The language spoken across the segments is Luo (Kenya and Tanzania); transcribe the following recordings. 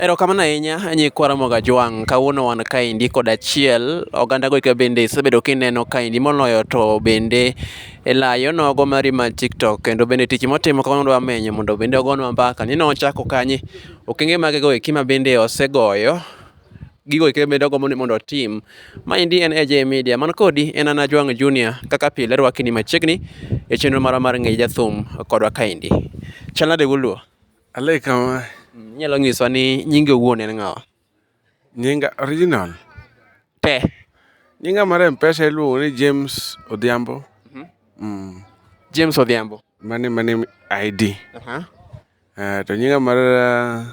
Erokamano ahinya nyikwa Ramogi Ajwang'. Kawuono wan kaendi kod achiel oganda goika bende isebedo kineno kaendi moloyo to bende elayo nogo mari mar TikTok kendo bende tich motimo kawuono dwa menyo mondo bende ogonwa mbaka ni nochako kanye okenge mage goeki ma bende osegoyo gigo eke bende ogombo ni mondo otim. Maendi en AJ Media man kodi en an Ajwang' Junior kaka pile rwakni machiegni e chenro marwa mar ng'e jathum kodwa kaendi. Chal nade wuoluo? Alei kama. Inyalo nyiswa ni nyingi owuon en ng'awa? Nyinga original? Te. Nyinga mar Mpesa iluongo ni James Odhiambo. Mhm. Mm. James Odhiambo. Mane mane ID. Uh -huh. Uh, to nyinga mar uh,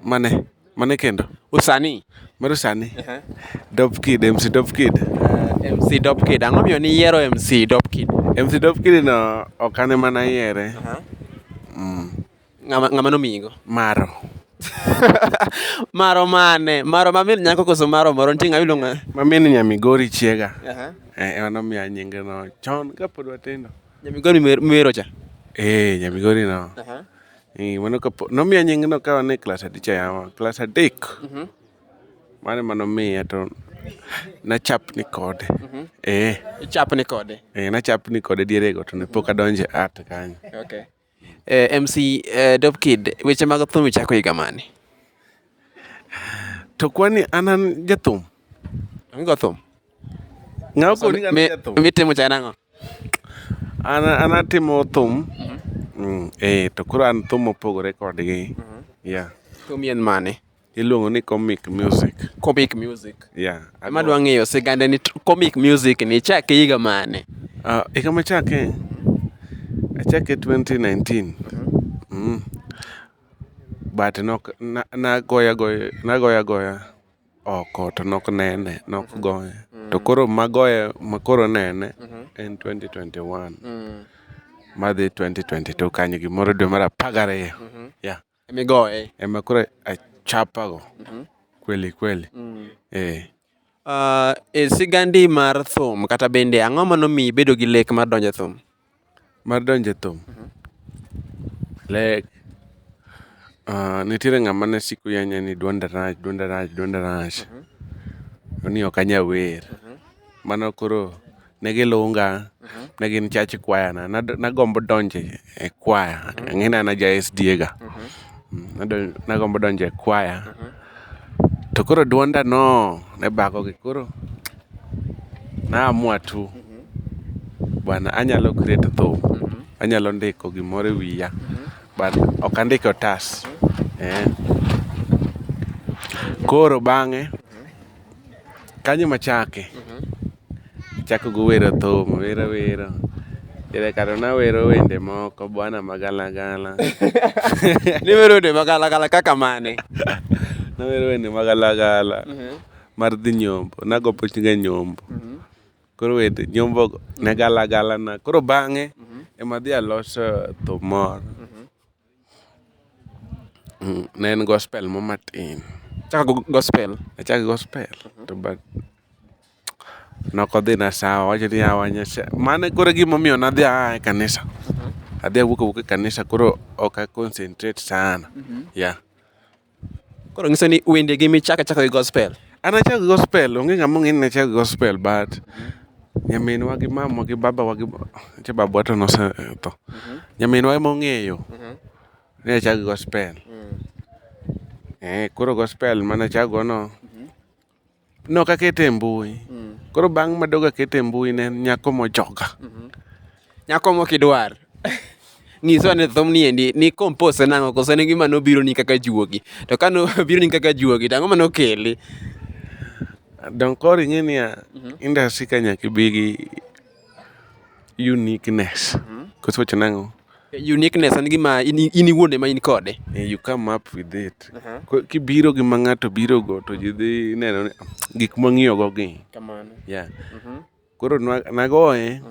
mane mane kendo usani mar usani uh -huh. Dop Kid MC Dop Kid uh, eh, MC Dop Kid ang'o miyo ni yiero MC Dop Kid MC Dop Kid no okane mana yiere uh -huh. mm. Ng'ama ng'ama nomiyigo? Maro. maro mane? Maro ma min nyako koso maro moro? Nitie ng'ama iluongo Ma min nya Migori chiega. Aha. Eh, ema nomiya nyinge no chon kapod watindo. Nyamigori miwer- miwero cha. Eh, nya Migori no. Aha. Eh, mano kapo nomiya nying no ka wan e klas adi cha yawa. Klas adek. Mano ema nomiya to nachapni kode. Eh, Ichapni kode. eh nachapni kode dierego to ne pok adonje art kanyo. Okay. MC Dope Kid, weche mag thum ichako higa mane? To kwani an an jathum? Onge go thum. Ng'awa koni an jathum. Mitimo cha nang'o? An an atimo thum. Mhm. Mm, eh to koro an thum mopogore kodgi. Mhm. Yeah. Thum yien mane? Iluongo ni comic music. Comic music. Yeah. Ema dwa ng'eyo sigande ni comic music ni chake higa mane? Uh, higa machake achake 2019. Mm. But nok na, na goya goya na goya goya oko to nok nene nok goya. To koro magoya makoro nene en 2021. Madhi 2022 kanyo gimoro dwe mar apar gariyo. Yeah. Ema igoye. Ema koro achapa go kweli kweli. Eh. Uh, e sigandi mar thum kata bende ang'o ma nomiyi bedo gi lek mar donjo e thum? Mar donjo e thum? Lek. Uh, nitiere ng'ama ne siko yanya ni dwonda rach, dwonda rach, dwonda rach. To ni ok anya wer. Mano koro ne gilunga ne gin church choir na nagombo donjo e choir ing'e ni an aja SDA ga. Nagombo donjo e choir to koro duonda no ne bako gi koro na amua tu bana anyalo create thum, anyalo ndiko gimoro e wiya but ok andik e otas. Koro bang'e Kanyo emachake, achako gi wer athum, awer awera, diere kanyo nawero wende moko bwana magalagala. Niwero wende magalagala kaka mane? Nawero wende magalagala mar dhi nyombo, nago pichga nyombo. Koro wende nyombogo ne galagala na. Koro bang'e emadhi aloso thum moro. Ne en gospel moro matin. Achako gi gospel. Achako gi gospel to but ne ok odhina sawa. Owacho ni yawa Nyasaye. Mano e koro gima omiyo ne adhi aa e kanisa. Adhi awuok awuok e kanisa koro ok a concentrate sana. Yeah. Koro nyiso ni wende gi michako achaka gi gospel. An achako gi gospel, onge ng'ama ong'eyo ni nachako gi gospel but nyaminwa gi mamwa gi babawa gi nitie babawa to nosetho. Nyaminwa ema ong'eyo ni achako gi gospel, eh koro gospel mane achako go no Nok akete e mbui. Mm. Koro bang' madog akete e mbui ne nyako mojoga. Mm -hmm. Nyako mokidwar. ng'iso ane thum ni endi ni compose nang'o koso en gima nobiro ni kaka juogi to ka nobiro ni kaka juogi to ang'o ma nokeli don koro ing'e niya mhm. industry ka nyaka ibi gi Uniqueness. Koso iwacho nang'o? Uniqueness en gima in in iwuon ema in kode. Eh, you come up with it. Ko- Kibiro gi ma ng'ato birogo to ji dhi neno ni gik mwang'iyogo gi. Kamano. Yeah. Koro nwa- nagoye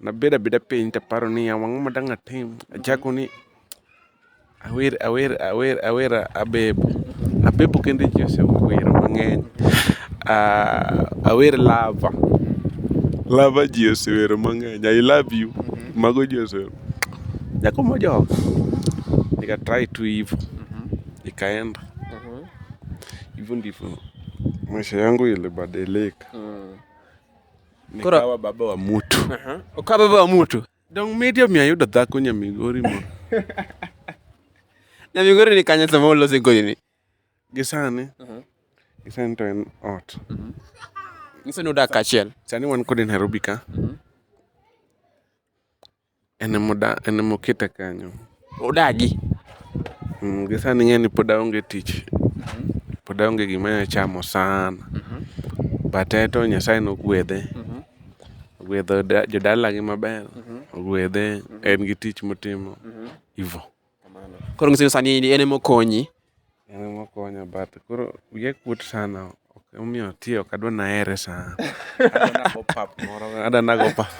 Nabedo abeda piny to aparo ni ya wang'o ma dang' atim. Achako ni awer awer awer awer abebo. Abebo kende ji osewero mang'eny. Ah, awer lava. Lava ji osewero mang'eny. I love you. Mago ji osewero. Nyako mojok. Nika try tu hivyo. Ikaenda. Hivyo ndivyo maisha yangu ilibadilika. Koro kawa baba wa mutu. Aha. Okawa baba wa mutu. Dong miti omiyo ayudo dhako nyamigori mo. nyamigori ni kanye sama ulose kodi ni. Gi sani. Gi sani to en ot. Nyiso ni udak achiel. Sani wan kode Nairobi ka. En ema oketa kanyo. Odagi. Gi sani ing'eyo ni pod aonge tich, pod aonge gima anyalo chamo sana but en to Nyasaye ne ogwedhe, ogwedho jodalagi maber, ogwedhe en gi tich motimo, hivyo. Kamano. Koro ng'ise ni sani en ema okonyi. En ema okonya but koro wiya kuot sana. Ok emomiyo ati ok adwa nahere sana. Adwa nago pap moro. Adwa nago pap.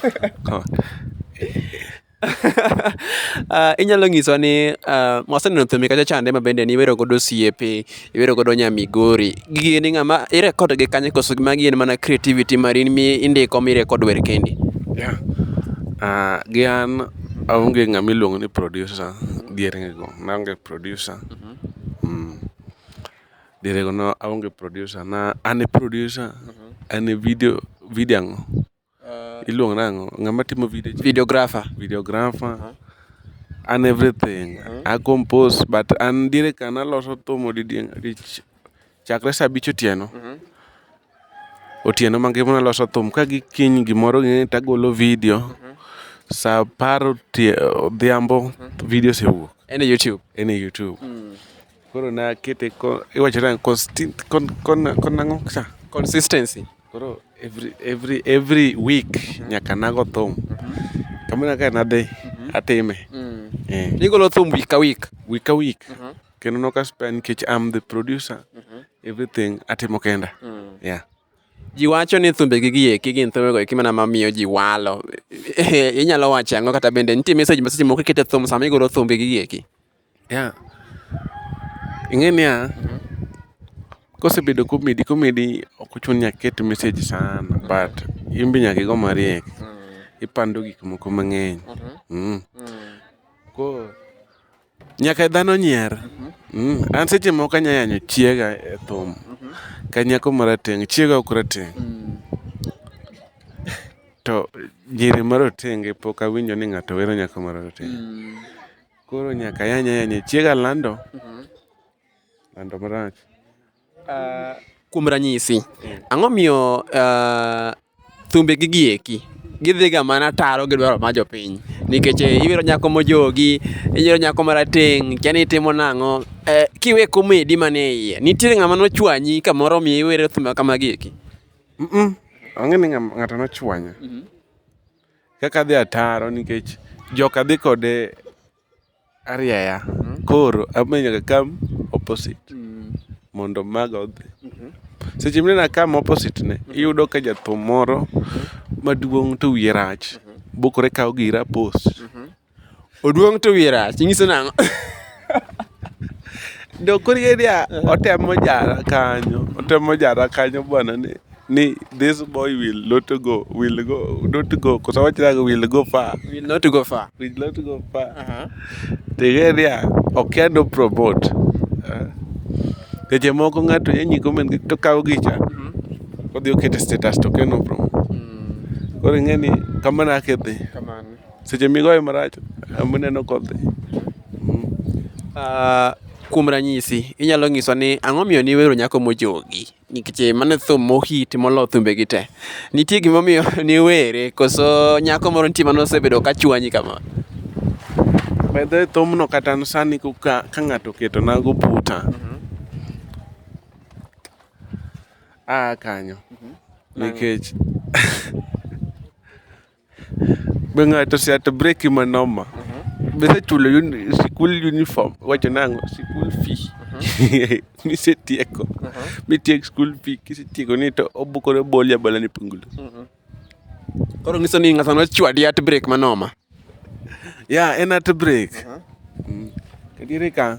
Ah, inyalo ng'isowa ni ah, waseneno thumbe kacha chande ma bende niwero godo osiepe. iwero godo nya Migori. Gigi ni ng'ama i record gi kanye koso magi en mana creativity mari in mi indiko mi record wer kendi? Yeah. Ah, gi an aonge ng'ama iluongo ni producer diergi go. Naonge producer. Mm. Dierego no aonge producer. Na an e producer, an e video, video ang'o? Iluongo nang'o? Ng'ama timo video cha? Videographer. Videographer. An everything. A compose but an diere ka naloso thum odidieng' adich. Chakre sa abich otieno, otieno mangima naloso thum. Ka gi kiny gimoro ging'eni to agolo video. Sa apar odhiambo video osewuok. En e Youtube. En e Youtube. Koro na kete ko iwacho nang' konstin kon kon kon ang'o cha? Consistency. Koro every every every week nyaka nago thum. Kamina ka nadhi atime. Eh. Igolo thum week ka week. Week ka week. Kendo noka spare nikech I'm the producer. Everything atimo kenda. Yeah. Ji wacho ni thumbe gi gieki gin thumbe go eki mana mamiyo ji walo. Inyalo wacho ang'o kata bende nitie message ma seche moko ikete thum sama igolo thumbe gi gieki. Yeah, ing'e niya, kosebedo komedi komedi ok ochuno ni nyaka iket message sana but in be nyaka igo mariek. Ipando gik moko mang'eny. Mmh. Koro nyaka dhano nyier. Mmh. An seche moko anya yanyo chiega e thum ka nyako marateng'. Chiega ok rateng'. To nyiri marotenge pok awinjo ni ng'ato wero nyako marateng'. Koro nyaka yanya yanya chiega lando. Mhm. Lando marach. Uh, kuom ranyisi, mm. ang'o miyo uh, thumbe gi gieki gidhiga mana taro gi dwaro ma jopiny nikech eh, ibiro nyako mojogi ibiro nyako marateng kia ni itimo nang'o eh, kiwe komedi mane iye nitiere ng'ama nochwanyi kamoro mi iwere thumbe kama gieki mm -mm. ang'e ni ng'ato nochwanya mm -hmm. Kaka adhi ataro nikech joka dhi kode arieya koro abiro nyaka akam opposite mondo maga odhi. Seche ma ineno akam opposite ne iyudo ka jathum moro maduong' to wiye rach bokore kawo gira post. Oduong' to wiye rach, inyiso nang'o? Dok koro ing'e niya, otemo jara kanyo, otemo jara kanyo bwana ni ni this boy will not go, will go, not go, koso wach nang'o will go far, Will not go far. will not go far. Aha. To ing'e niya, okia no promote. Eh. Seche moko ng'ato nyanyi comment gi- to kawo gicha, Mhm. odhi okete status to okia no promote. Mm, Koro ing'e ni kamano ake dhi. Kamano. Seche migoyo marach muneno kodhi. Uh, kuom ranyisi inyalo nyiswa ni ang'o omiyo niwero nyako mojogi nikech eh, mano thum mohiti molo thumbegi te nitie gimomiyo niwere koso nyako moro nitie mano osebedo ka chwanyi kama bedhe thumno kata sani ka, ka ng'ato oketo nago puta mm-hmm. a kanyo mm-hmm. nikech Be ng'ato ose ato breki ma noma? Be isechulo uni- sikul uniform? Wacho nang'o? Sikul fee. Misetieko. Mitiek skul fee. Kisetieko ni to obukore boli abola ni pungulu. Koro nyiso ni ng'ato nochwadi at break manoma. Ya, en at brek. Mm. Adieri ka.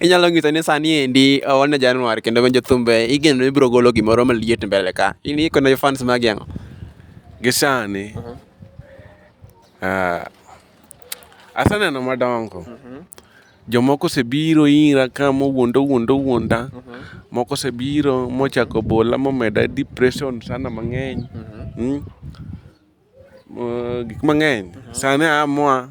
Inyalo ng'iso ni sani endi wan e January kendo winjo thumbe igeno ni ibiro golo gimoro maliet mbele ka. In ikone fans magi ang'o? Gi sani, ah, aseneno madongo. Jomoko osebiro ira ka mowuonda owuonda owuonda. Moko osebiro mochako bola momeda depression sana mang'eny. Gik mang'eny, sani amoa.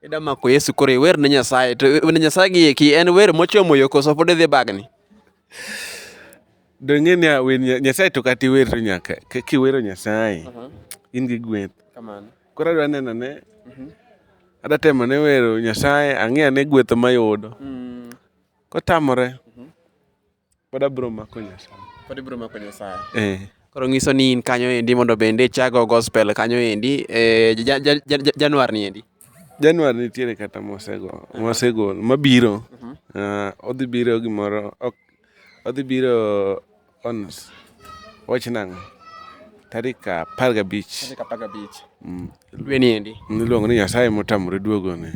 Ida mako Yesu koro iwer ne Nyasaye to ne Nyasaye gi eki en wer mochomo yo koso pod idhi bagni. Dong'e ni awer Nyasaye to kata iwer to nyaka kaka iwero Nyasaye in gi gweth. Koro adwa neno ne mhm. adwa temo ne wero Nyasaye ang'e ane gweth mayudo. Mm. Kotamore mhm. Pod abro mako Nyasaye. Pod ibiro mako Nyasaye. Eh. Koro ng'iso ni in kanyo endi mondo bende ichago gospel kanyo endi eh, ja- ja- ja- ja- Januar ni endi. Januar nitiere kata mosego mosegol mabiro. Ah, odhi biro gimoro ok odhi biro on s- wach nang'o? Tarik apar gabich. Kapaga Beach. Mm. Dwe ni endi. Niluongo ni Nyasaye motamore duogone.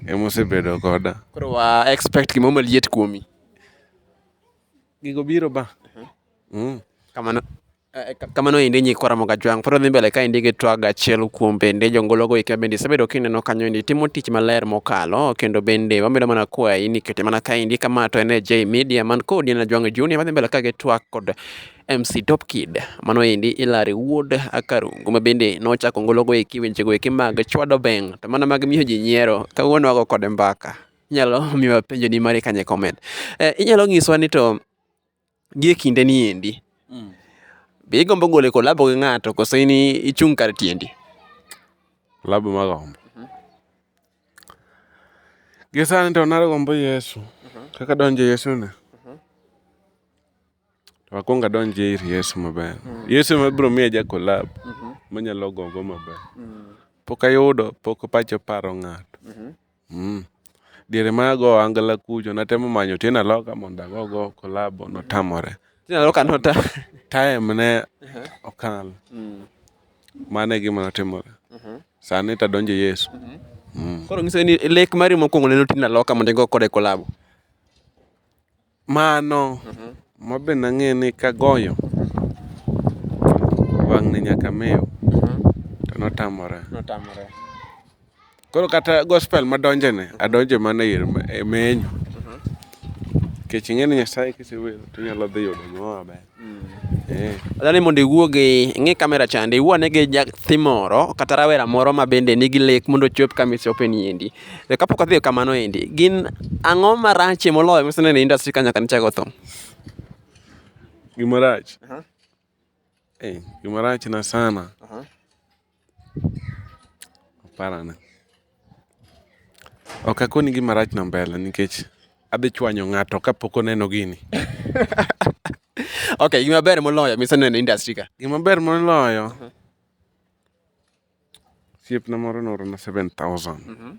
Emosebedo koda. Koro wa expect gimoro maliet kuomi. Gigo biro ba. Mm. Kamano. Eh, ka- Kamano endi nyikwa Ramoga Jwang' pod odhi mbele ka endi gi twag achiel kuom bende jongologo eka bende isebedo kineno kanyo endi timo tich maler mokalo kendo bende wamedo mana kwayi ni kete mana ka endi kama to en e J Media man kodi en Jwang' Junior madhi mbele ka gi twak kod MC Top Kid mano endi Ilari Wuod Akarungu ma bende nochako ngologo eki wechego eki mag chwado beng' to mana mag miyo ji nyiero kawuono wago kode mbaka. Inyalo miwa penjo ni mari kanye comment. Eh, inyalo ngiswa ni to gie kinde ni endi. Mm. Be igombo gole kolabo gi ng'ato koso in ichung' kar tiendi? Labo ma gombo. Mm -hmm. Gisani to nagombo Yesu. Mm -hmm. Kaka donjo Yesu ne. Mm -hmm. To akwongo adonj ir Yesu maber. Yesu ema biro miya ja collab manyalo gogo maber. Pok ayudo, pok pacha oparo ng'ato. Mm. Diere ma ago angala kucho, natemo manyo Otieno Aloka mondo agogo collab, notamore. Otieno Aloka nota. Time ne okalo. Mm. Mano e gima notimore. Mhm. Sani to adonjo Yesu. Mhm. Mm. Koro nyiso ni lek mari mokwongo ne Otieno Aloka mondo igo kode collab. Mano ma be nang'eyo ni kagoyo wang'ni nyaka mew to notamore. Koro kata gospel madonjone adonjo mana e menyo nikech ing'e ni Nyasaye kisewer to inyalo dhi yudo gimoro maber. Eh. Adwaro ni mondo iwuo gi ng'i kamera chande, iwuo ane gi nyathi moro kata rawera moro ma bende nigi lek mondo ochop kama ichope ni endi. To kapok adhi kamano endi, gin ang'o marach e moloyo miseneno e industry ka nyaka nichak otho? Gima rach? Eh, gima rachna sana. Parana. Ok akoni gima rach no mbele nikech adhi chwanyo ng'ato kapok oneno gini. Ok, gima ber moloyo miseneno e industry ka. Gima ber moloyo, mhm. osiepna moro noorona 7000.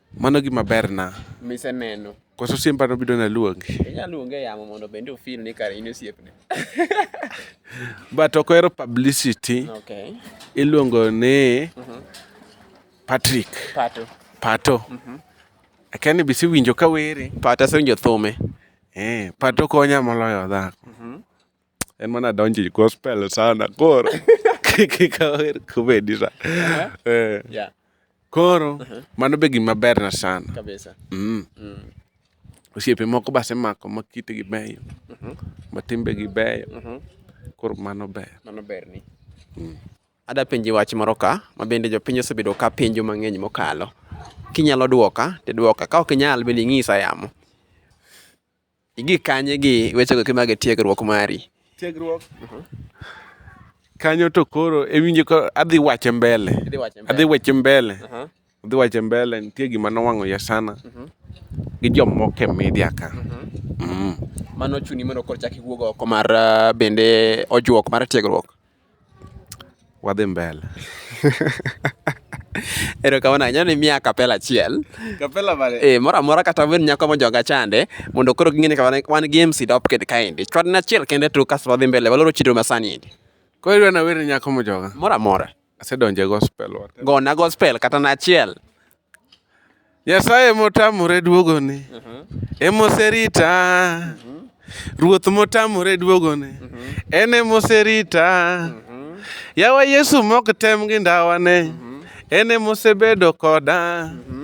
Mano gima berna. Miseneno. Koso simba nobido naluongi. Inya luonge e yamo mondo bende ofil ni kare in osiepne. But ok ohero publicity. Okay. Iluongo ni mhm. Patrick. Pato. Pato. Mhm. Akia ni bisi winjo ka were. Pato asewinjo thume. Eh, Pato konya moloyo dhako. Mhm. En mana donjo e gospel sana koro. Kika wer kubedi sa. Eh. Yeah, Koro mano be gima berna sana. kabisa. Mm. Osiepe moko base mako ma kitgi beyo. Ma timbegi beyo. Koro mano ber. Mano berni. Ada penji wach moro ka ma bende jopiny osebedo ka penjo mang'eny mokalo. Kinyalo dwoka, tidwoka. Ka ok inyal bende ing'isa yamo. Igik kanye gi wechego eki mag tiegruok mari? Tiegruok. Kanyo to koro ewinjo ka adhi wache mbele. Idhi wache mbele. Adhi wache mbele. Aha. Adhi wache mbele nitie gima nowang'o ya sana gi jomoko e media ka. Mm. Mano chuni mondo koro chak iwuog oko mar ah, bende ojuok mar tiegruok. Wadhi mbele. Erokamano ahinya ni miya kapela achiel. Kapela mane? Eh, moro amora kata wen nyako mojoga chande mondo koro ging'e ni wan gi MC Dop kid kaendi. Chwadna achiel kende to kasto wadhi mbele waloro chenro ma sani endi. Koro idwa nawer ne nyako mojoga? Moro amora. Asedonje gospel. Gona gospel kata na achiel. Nyasaye motamore duogoni emoserita Ruoth motamore duogoni en emoserita Yawa Yesu mok tem gi ndawane en emosebedo koda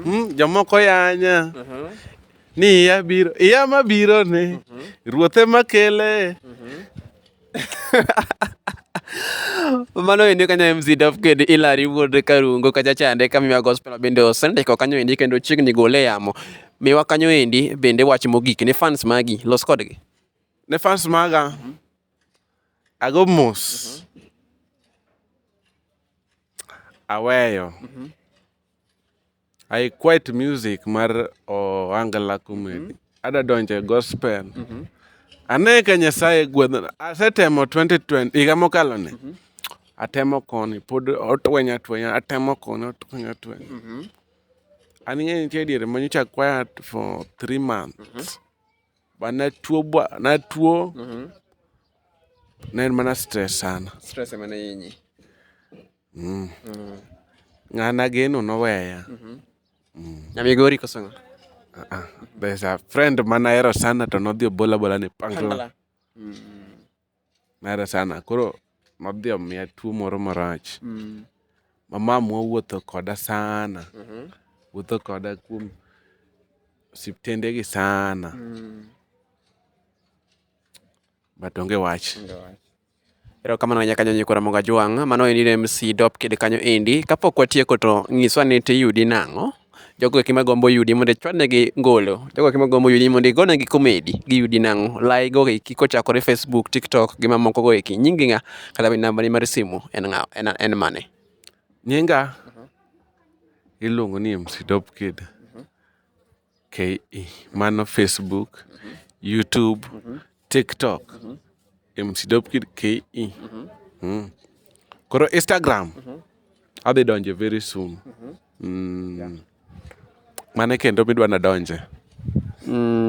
hmm, Jomoko yanya ni iya biro iya mabironi Ruoth emakele Mano ende kanyo MC Daf kod Hilary wuod Karungo kacha chande ka miwa gospel bende osendiko kanyo endi kendo chiegni gole e yamo. Miwa kanyo endi bende wach mogik ne fans magi los kodgi. Ne fans maga ago mos aweyo. I quite music mar Ohangla Comedy. Mm -hmm. Ada donje gospel. Mm -hmm. Ane ka Nyasaye gwedho. Asetemo 2020 higa mokalo ne. Mm -hmm. Atemo koni pod otwenya twenya, atemo koni otwenya twenya. Mm -hmm. An ng'e nitie diere ma nyocha quiet for 3 months. Mm -hmm. Ba na tuo ba na tuo. Mm -hmm. Ne mana stress sana. Stress emane yinyi. Mm. Mm. Ng'an ageno noweya. Mm-hmm. Mm. Nyamigori koso ng'a? Uh -uh. There's a friend man ahero sana to nodhi obola bola ni pangla. Mm. Nahero sana. Koro nodhi omiya tuo moro marach. Mm. Mamamwa wuotho koda sana. Mm -hmm. Wuotho koda kuom siptende gi sana. Mm. But onge wach. Onge wach. Erokamano ahinya kanyo Nyikora Mongo Ajwang'. Mano endi ne MC Dop Kid kanyo endi. Kapok watieko to nyiswa ni tiyudi nang'o? Jogo eki magombo yudi mondo ichwadnegi ngolo. Jogo eki magombo yudi mondo igonegi komedi giyudi nang'o? Lai go eki kochakore Facebook, TikTok gi mamoko go eki. Nyingi ng'a? Kata be nambani mar simu en ng'a? En, en mane? Nyinga iluongo ni MC Dop Kid. Mano Facebook, YouTube, TikTok, koro Instagram adhi donje very soon. Mane kendo midwa nadonje?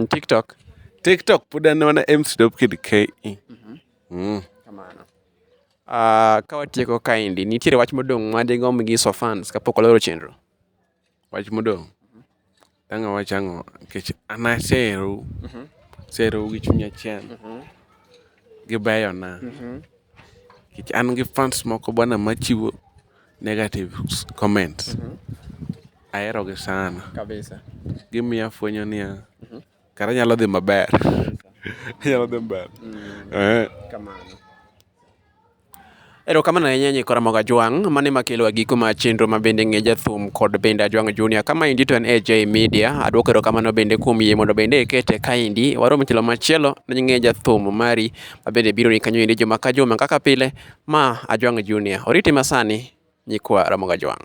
TikTok. TikTok pod en mana mcdopkidke. Kawatieko kaendi, nitiere wach modong' madigomb nyiso fans kapok waloro chenro? Wach modong', dang' awach ang'o nikech an aseherou, aseherou gi chuny achiel, gibeyona nikech an gi fans moko bana machiwo negative comments, aherogi sana. Gimiyo afwenyo niya, kara anyalo dhi maber. Erokamano ahinya Nyikwa Ramogi Ajwang', mano ema kelo e giko mar chenro ma bende ng'e jathum kod bende Ajwang' Junior. Kama endi to en AJ Media, aduoko erokamano bende kuom yie mondo bende ikete kaendi. Warom e tielo machielo ne ng'e jathum mari ma bende biro ni kanyo endi juma ka juma kaka pile, ma Ajwang' Junior. Oriti masani Nyikwa Ramogi Ajwang'.